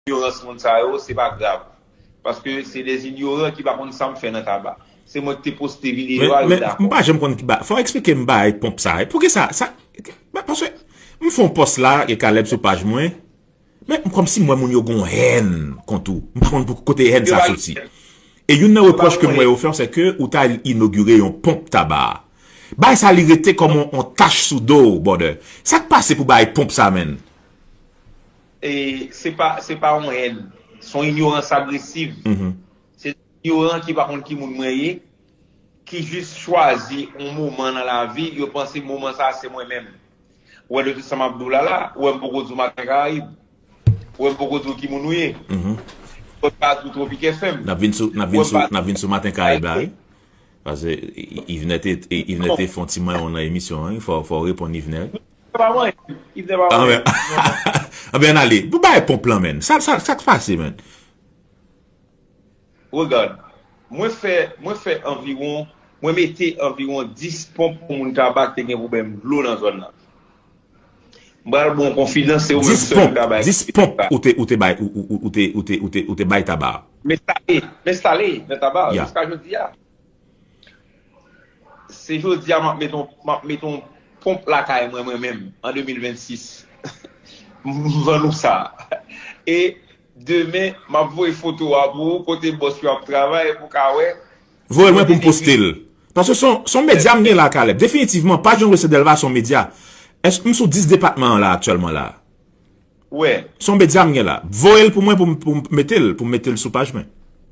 Inyorans moun sa yo, se pa grav. Paske se des inyoran ki pa konn sa m fè nan taba. Se mwen ki te poste videyo a, yo dakò. Fò w eksplike m bagay ponp sa. Pouki sa? Paske m fon pòs la e Caleb sou paj mwen. Men m kòmsi m wè moun yo gon hèn kont ou. M pa konn pou kote hèn sa soti. E youn nan repwòch ke m wè yo fè w se ke ou ta al inogire yon ponp taba. Bagay sa li rete kòm yon tach sou do w brother. Sa k pase pou bagay ponp sa menn? Se pa se pa yon hèn. Se yon inyorans agresiv. Se yon inyoran ki pa konn ki moun mwen ye, ki jis chwazi yon moman nan lavi, yo panse moman sa a se mwen menm. Ou wè de tout sa m ap di w la la, ou wè m poko di w Maten Karayib. Ou wè m poko di w ki moun ou ye. Ou wè m pa di w Tropik FM. N ap vin sou, n ap vin sou, n ap vin sou Maten Karayib la wi. Pase Yvner te, Yvner te fon ti manyon nan emisyon an wi. Fò w reponn Yvner. Yves pa manyen. Yves te pa manyen. Anben an ale. Pou bay pomp lan men. Sa k pase men. Regard. Mwen fè, mwen fè anviwon, mwen mete anviwon 10 pomp pou moun kaba k te gen pwoblèm dlo nan zòn nan. M pral ba w konfidans se ou menm sèl ki ka bay konfidans sa. 10 pomp, 10 pomp ou te bay, ou te, ou te, ou te bay taba a. M enstale, m enstale nan taba a jiska jodi a. Se jodi a m ap met yon m ap met yon ponp lakay mwen mwen menm an 2026 m vann ou sa e demen m ap voye foto a pou ou kote bòs yo ap travay pou w ka wè Voye l mwen pou m poste l Paske s on medya m gen la Caleb Definitivman paj yon Recette Delva s on medya Èske m sou 10 depatman an la aktyèlman la a? Wè. Son media m gen la. Voyel pou mwen pou m metel pou m metel sou paj mwen.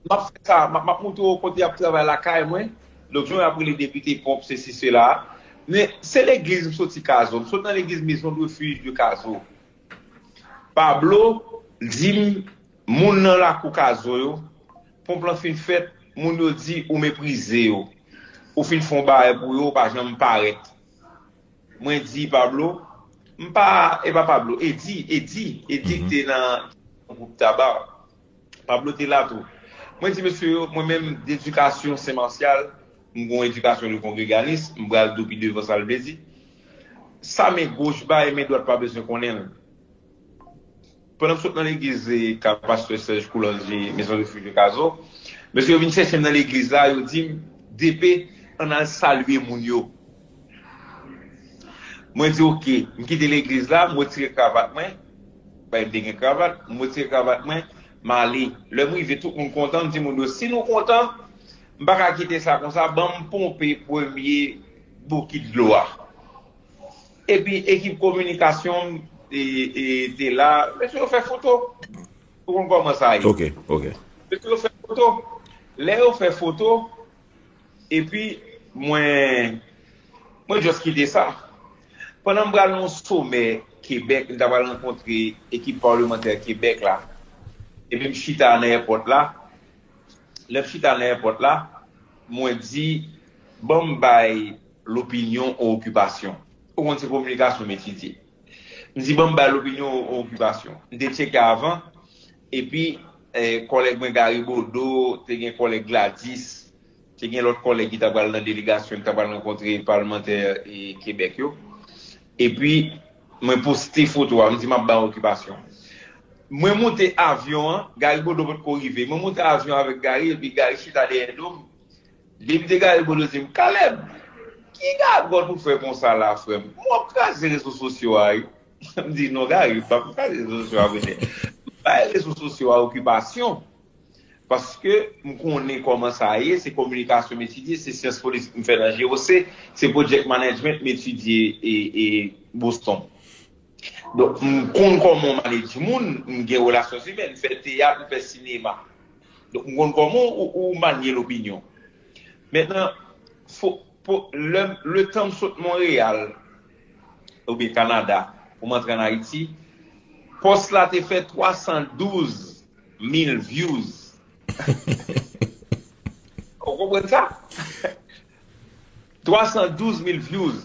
Map fè sa, map moutre w kote yap travay lakay mwen, donk jan yap rele depite pwop sesi sela, men se legliz m soti kazo, m sot nan legliz maison de refuge de kazo. Pablo di m moun nan lakou kazo yo, ponp lan fin fèt, moun yo di ou meprize yo, ou fin fon barè pou yo ou pa janm parèt. Mwen di Pablo, m pa, e pa Pablo, Eddy, Eddy, Eddy ki te nan gwoup Taba. Pablo te la tou. Mwen di mesye yo, mwen menm dedikasyon Sen Marsyal, m gen yon edikasyon de kongreganis, m pral dou pi devan sa l vle di. Sa men goch bay, men dwat pa bezwen konnen l. Pandan m sot nan legliz ka pastè Serge Courlangy, Maison Refuge de Cazeau, mesye yo vin chèche m nan legliz la, yo di m, DP, ann al salye moun yo. Mwen di ok. M kite legliz la, m retire kravat mwen, paske m te gen kravat, m retire kravat mwen, m ale. Lè m rive, tout moun kontan, m di moun yo, si nou kontan, m pa ka kite sa konsa, ban m ponpe premye bokit dlo a. Epi ekip kominikasyon m te la. Mesye yo fè foto. Ou konn kòman sa ye. Ok, ok. Mesye yo fè foto. Lè yo fè foto, epi mwen just kite sa. Pandan m pral nan yon somè Kebèk, m ta pral rankontre ekip palemantè Kebèk la. Epi m chita nan èpòt la. Lè m chita nan èpòt la, mwen di, ban m bay. Lopinyon ou okipasyon? Ou konn se kominikasyon m etidye. M di ban m bay lopinyon ou okipasyon. M te tcheke avan, epi kòlèg mwen Gary Bodeau, te gen kòlèg Gladys, te gen lòt kòlèg ki ta pral nan delegasyon ki ta pral rankontre palmantè Kebèk yo. Epi mwen poste foto a, m di m ap ba ou okipasyon. Mwen moute avyon an, Gary Bodeau potko rive. Mwen moute avyon avèk Gary, epi Gary chita dèyè do m, Depi te gade bolo di m Caleb ki gagòt ou fè konsa la frè m ou ap kraze rezo sosyo a wi m di non Gary m pap kraze rezo sosyo a kounye m bay rezo sosyo a okipasyon paske m konnen kòman sa ye se kominikasyon m etidye se syans politik m fè nan GOC se project management m etidye e Boston donk m konn kòman w manedj moun m gen relasyon zimèn m fè teyat m fè sinema. Donk m konn kòman ou manye lopinyon. Mentnan, letan m sot Monreyal oubyen Kanada pou m antre an Ayiti, pòs la te fè 312 mil vyouz. Ou konprann sa? 312 mil vyouz.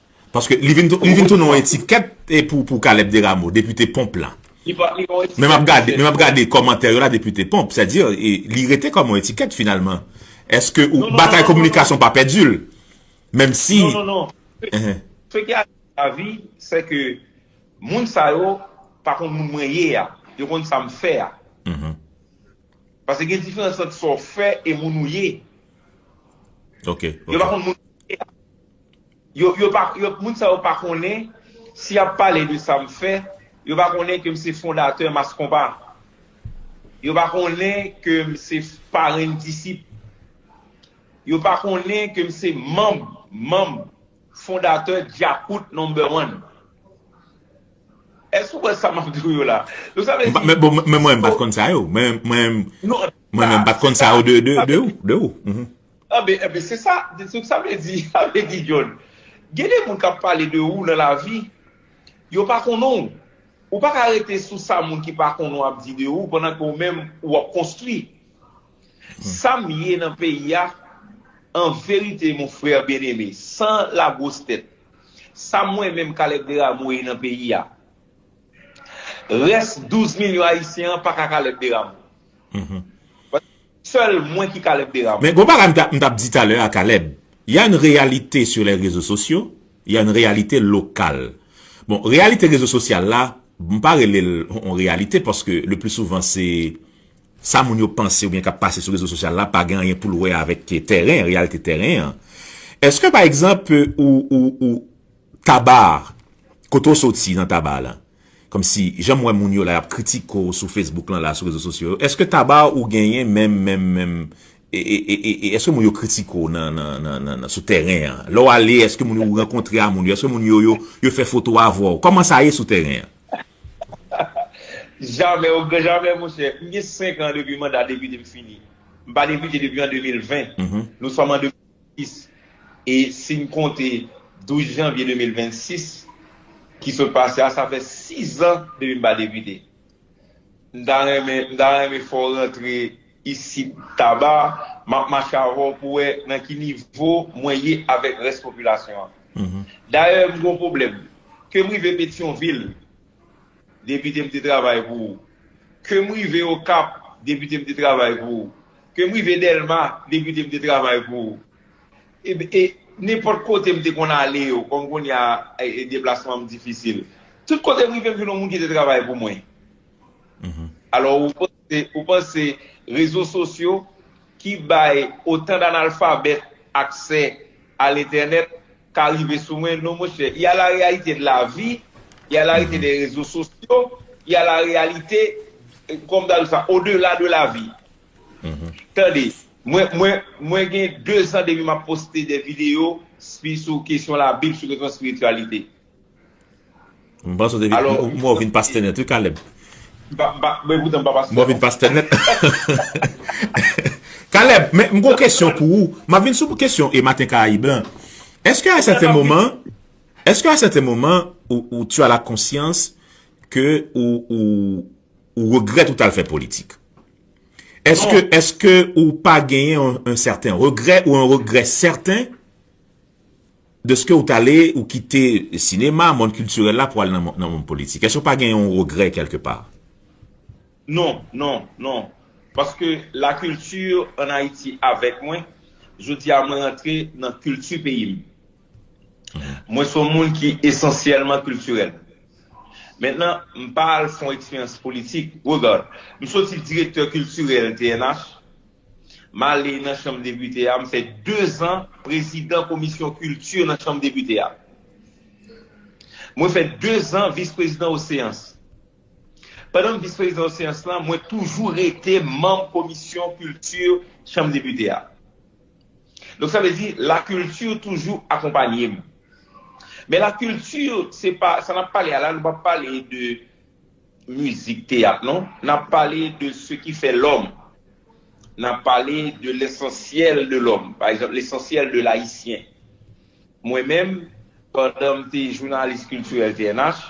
Paske li vin tounen yon etikèt pou Caleb Desrameaux, depite Pomp la. Men m ap gade kòmantè yo la depite Pomp. Sa di, li rete kòm yon etikèt finalman. Eske batay kominikasyon pa pèdi l? Menm si... Non, non, non. Se ki a la vi, se ke moun sa yo pa konn moun mwen ye a. Yo konn sa m fè a. Paske gen diferans ant sa w fè e moun ou ye. Ok. Yo pa konn moun mwen ye a. Yo, yo pa, yo, moun sa yo pa konnen, si yap pale de sa m fè, yo pa konnen ke m se fondatè Mass Konpa. Yo pa konnen ke m se parenn disip. Yo pa konnen ke m se manm, manm, fondatè Djakout Number One. Èske ou kwè sa m ap di w yo la? Donk sa vle di. Men bon, men mwen m pat konn sa yo. Mwen, mwen, mwen men m pat konn sa yo de, de, de ou, de ou. Anben, anben, se sa, se sa vle di, sa vle di John. Gen de moun k ap pale de ou nan lavi, yo pa konnen w. Ou pa ka rete sou sa moun ki pa konnen w ap di de ou pandan ke ou menm ou ap konstwi. Sa m ye nan peyi a, an verite mon frère bien aimé, san la gwos tèt, sa mwen menm Caleb Desrameaux ye nan peyi a, rès 12 milyon ayisyen an pa ka Caleb Desrameaux. Sel mwen ki Caleb Deramond. Men gon bagay m tap di talè a Caleb, ya yn reyalite sur les rezo sosyo, ya yn reyalite lokal. Bon reyalite rezo sosyal la, m pa rele l on reyalite paske le pli souvan se sa moun yo panse oubyen kap pase sou rezo sosyal la pa gen anyen poul wè avèk tèren, reyalite tèren an. Eske pa egzanp ou ou ou. Tabar, kote w soti nan Tabar la? Kòmsi, jan m wè moun yo la y ap kritike w sou Facebook lan la, sou rezo sosyo yo, èske Tabar ou genyen menm, menm, menm, e, e, e, e, e, èske moun yo kritike w nan, nan, nan, nan, nan, sou tèren an? Lè w ale, èske moun yo ou rankontre a moun yo, èske moun yo yo, yo fè foto avè w? Kòman sa ye sou tèren an? Jamè, o gran jamè, monchè. M gen 5 an depi manda depite m fini. M pa depite depi an 2020. Nou sòm an 2023. 2026 e si n konte 12 janvye 2026 ki sot pase a sa fè 6 an depi m pa depite. M ta renmen m ta renmen fè w rantre isit Taba m ap mache avè w pou wè nan ki nivo mwen ye avèk rès popilasyon an. Dayè m gen yon pwoblèm ke m rive Petyonvil, Depite m te travay pou ou. Ke m rive Okap, Depite m te travay pou ou. Ke m rive Dèlma, Depite m te travay pou ou. E nenpòt kote m te konn ale yo, kòm kounye a deplasman m difisil. Tout kote m rive m vin yon moun ki te travay pou mwen. Alò ou panse E ou panse rezo sosyo ki bay otan d'analfabèt aksè a l'entènèt ka rive sou mwen? Non monchè, y a la réalité de la vie, y a la réalité des réseaux sociaux, y a la réalité, kòman m ta di sa, au delà de la vie. Tande, mwen, mwen, mwen gen 2 zan depi m'ap poste des vidéos spi sou kesyon labib, sou kesyon espirityalite. M panse ou te vin, m wè ou vin pastè nèt wi Caleb. M pa, m pa, m e poutan m pa pastè. M wè ou vin pastè nèt. Caleb, men m gon kesyon pou ou. M ap vin sou kesyon e Maten Karayib lan. Eske a sèten moman, eske a sèten moman ou tu a la konsyans ke ou, ou, ou regrèt ou t al fè politik? Eske, eske ou pa genyen yon sèten regrè ou yon regrè sèten Deske ou t ale, ou kite sinema, mond kiltirèl la pou al nan mond politik. Èske ou pa gen yon regrè kèlke pa? Non, non, non. Paske la kilti an Ayiti avèk mwen. Jodi a mwen rantre nan kilti peyi m. Mwen se yon moun ki esansyèlman kiltirèl. Mentnan, m pa al fè yon eksperyans politik. Regad, m soti direktè kiltirèl TNH, M ale nan chanm depite a, m fè 2 zan prezidan komisyon kilti nan chanm depite a. Mwen fè 2 zan vis prezidan o seyans. Pandan m vis prezidan o seyans lan, mwen toujou rete manm komisyon kilti chanm depite a. Donk sa vle di la kilti toujou akonpanye m. Men la kilti se pa, sa n ap pale a la nou pa pale de. mizik, teyat non. N ap pale de se ki fè lòm. N ap pale de lesansyèl de lòm. Pa egzanp, lesansyèl de layisyen. Mwen menm, pandan m te jounalis kiltirèl TNH,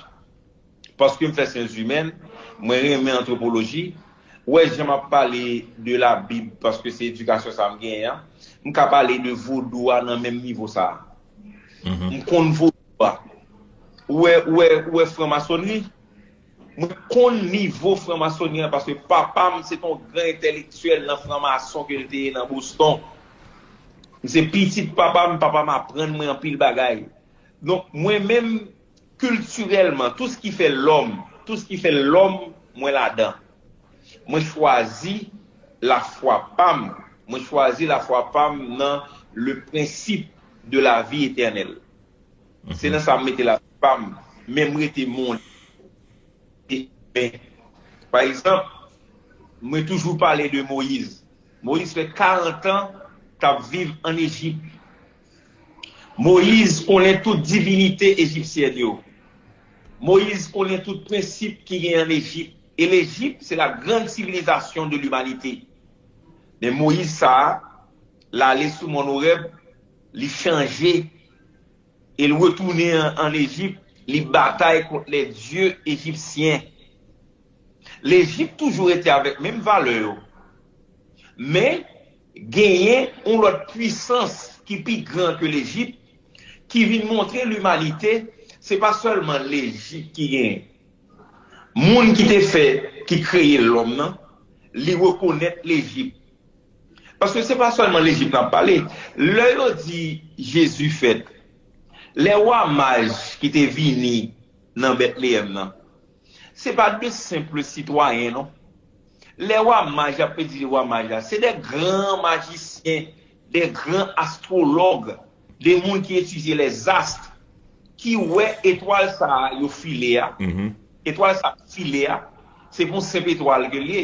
paske m fè syenszimèn, mwen renmen antwopoloji, wè jan m ap pale de labib, paske se edikasyon sa a m genyen an, m ka pale de vodou a nan menm nivo sa a. M konn vodou a. Ou wè, ou wè, ou wè franmasonnri? Mwen konn nivo franmasoni an paske papa m se te yon gran entèlektyèl nan franmason ke l te ye nan Boston. M se pitit papa m, papa m aprann mwen anpil bagay. Donk mwen menm kiltirèlman, tou s ki fè lòm, tou s ki fè lòm mwen ladan. Mwen chwazi lafwa pa m, mwen chwazi lafwa pa m nan le prensip de lavi etènèl. Se nan sa m mete lavi pa m, men m rete moun imen. Pa egzanp, mwen toujou pale de Moyiz. Moyiz fè karantan k ap viv ann Ejip. Moyiz konnen tout divinite ejipsyèn yo. Moyiz konnen tout prensip ki gen ann Ejip. E Lejip se la grand sivilizasyon de limanite. Men Moyiz sa a, l ale sou mòn Orèb, li chanje E l retounen ann Ejip, li batay kont lèdye ejipsyen. Lejip toujou rete avèk menm valè yo. Men, genyen yon lòt puisans ki pi gran ke Lejip ki vin montre limanite se pa sèlman Lejip ki genyen. Moun ki te fè, ki kreye lòm nan, li rekonèt Lejip. Paske se pa sèlman Lejip n ap pale. Lè yo di Jezi fèt, lè wa Maj ki te vini nan Betleyèm nan, se pa de senpl sitwayen non. Lè wa Maj ap di de wa Maj la, se de gran majisyen, de gran astwològ, de moun ki etidye lèzast, ki wè etwal sa a yo file a. Etwal sa a ki file a, se pa yon senp etwal ke l ye.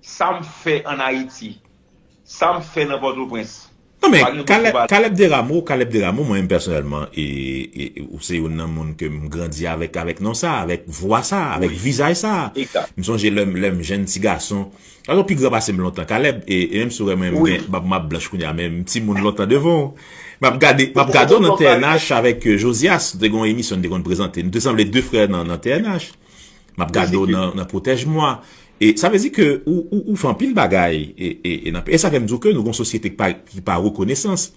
Sa m fè an Ayiti. Sa m fè nan Pòtoprens. Non men, Caleb Desrameaux, Caleb Desrameaux, mwen menm pèsonèlman, ou se youn nan moun ke m grandi avèk, avèk non sa, avèk vwa sa, avèk vizaj sa. M sonje lè m, lè m jenn ti gason. Caleb ou pi gran pase m lontan, Caleb, e menm si ou wè mwen m gen bab map blanch kounye a, men m ti moun lontan devan w. Map gade, map gade w nan TNH avèk Josias, nou te gen yon emisyon nou te konn prezante. Nou te sanble de frè nan TNH. Map gade w nan pwotèj mwa. E sa vle di ke ou fè anpil bagay. E sa fèm di w ke nou gon sosyete ki pa rekonesans.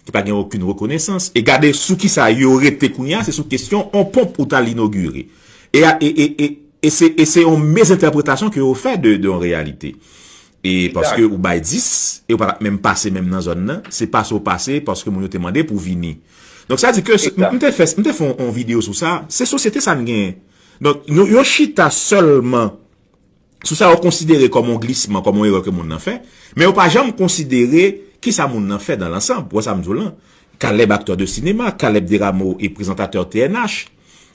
Ki pa gen okin rekonesans. E gade sou ki sa yo rete kounye a. Se sou kesyon on ponp ou tal inogire. E se on mezentèpretasyon ke yo fè de on reyalite. E paske ou bay 10. E ou pa tap menm pase menm nan zòn nan. Se pase ou pase paske moun yo te mande pou vini. Donk sa di ke mte fè on video sou sa. Se sosyete sa n gen. Donk, yo chita sèlman sou sa yo konsidere kòm yon glisman, kòm yon erè ke moun nan fè, men yo pa janm konsidere ki sa moun nan fè dan lansanb. Ou wè sa m di w lan? Kalèb aktè de sinema, Kalèb Deramo e prezantatè TNH,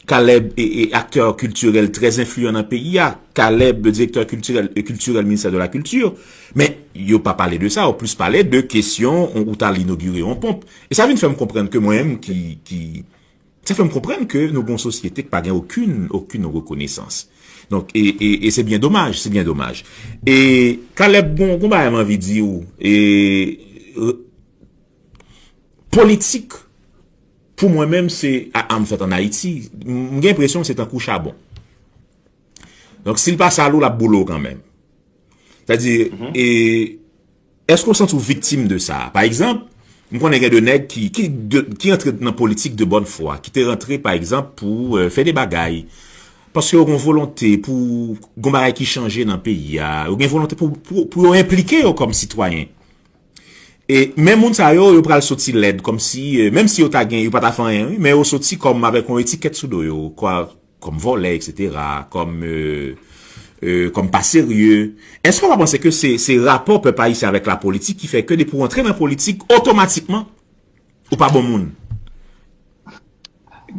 Kalèb e aktè kiltirèl trè enfliyan nan peyi a, Kalèb direktè kiltirèl ministè de la kilti, men yo pa pale de sa, yo plis pale de kesyon ou t al inogire yon ponp. E sa vin fè m konprann ke mwen menm ki... Sa fè m konprann ke nou gen yon sosyete k pa gen okin, okin rekonesans. Donk, e, e, e se byen domaj, se byen domaj. E, Caleb, gon, gon bagay m anvi di ou, e, e, politik, pou mwen menm se, a, a m fèt an Ayiti, m gen enpresyon se tankou chabon. Donk, si l pa sal ou, l ap boule ou kanmenm. Sa di, e, Èske w santi w viktim de sa? Pa egzanp, m konnen gen de nèg ki ki antre nan politik de bòn fwa, ki te rantre pa egzanp pou fè de bagay, paske yo gen yon volonte pou gen bagay ki chanje nan peyi a, yo gen volonte pou yo enplike yo kòm sitwayen. E men moun sa yo, yo pral soti lèd, kòmsi, menm si yo ta gen, yo pa ta fè anyen wi, men yo soti kòm avèk yon etikèt sou do yo, Kòm vòlè eksetera, kòm euh, kòm pa serye. Èske w pa panse ke se, se rapò pèp ayisyen avèk la politik ki fè ke depi w antre nan politik otomatikman ou pa bon moun?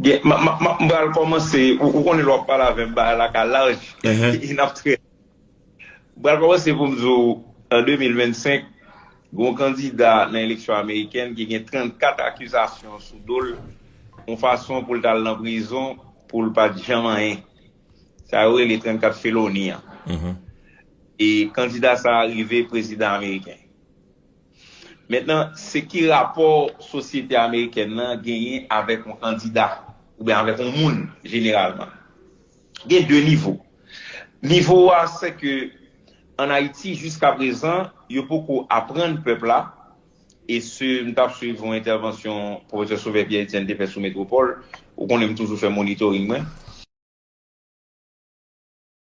Gen, m, m, m, m pral kòmanse, ou konnen lè w ap pale avè m bagay la ka laj e n ap trè. M pral kòmanse pou m di w an 2025, gen yon kandida nan eleksyon amerikèn ki gen 34 akizasyon sou do l yon fason pou l t al nan prizon pou l pa t janm anyen. Sa yo rele 34 feloni an. E kandida sa a rive prezidan ameriken. Mentnan, se ki rapò sosyete amerikèn nan genyen avèk yon kandida oubyen avèk yon moun jeneralman? Gen 2 nivo. Nivo a se ke an Ayiti jiska prezan yo poko aprann pèp la e se m tap swiv yon entèvansyon Pwofesè Sauveur Pierre Etienne te fè sou Metropole, ou konnen m toujou fè monitoring mwen.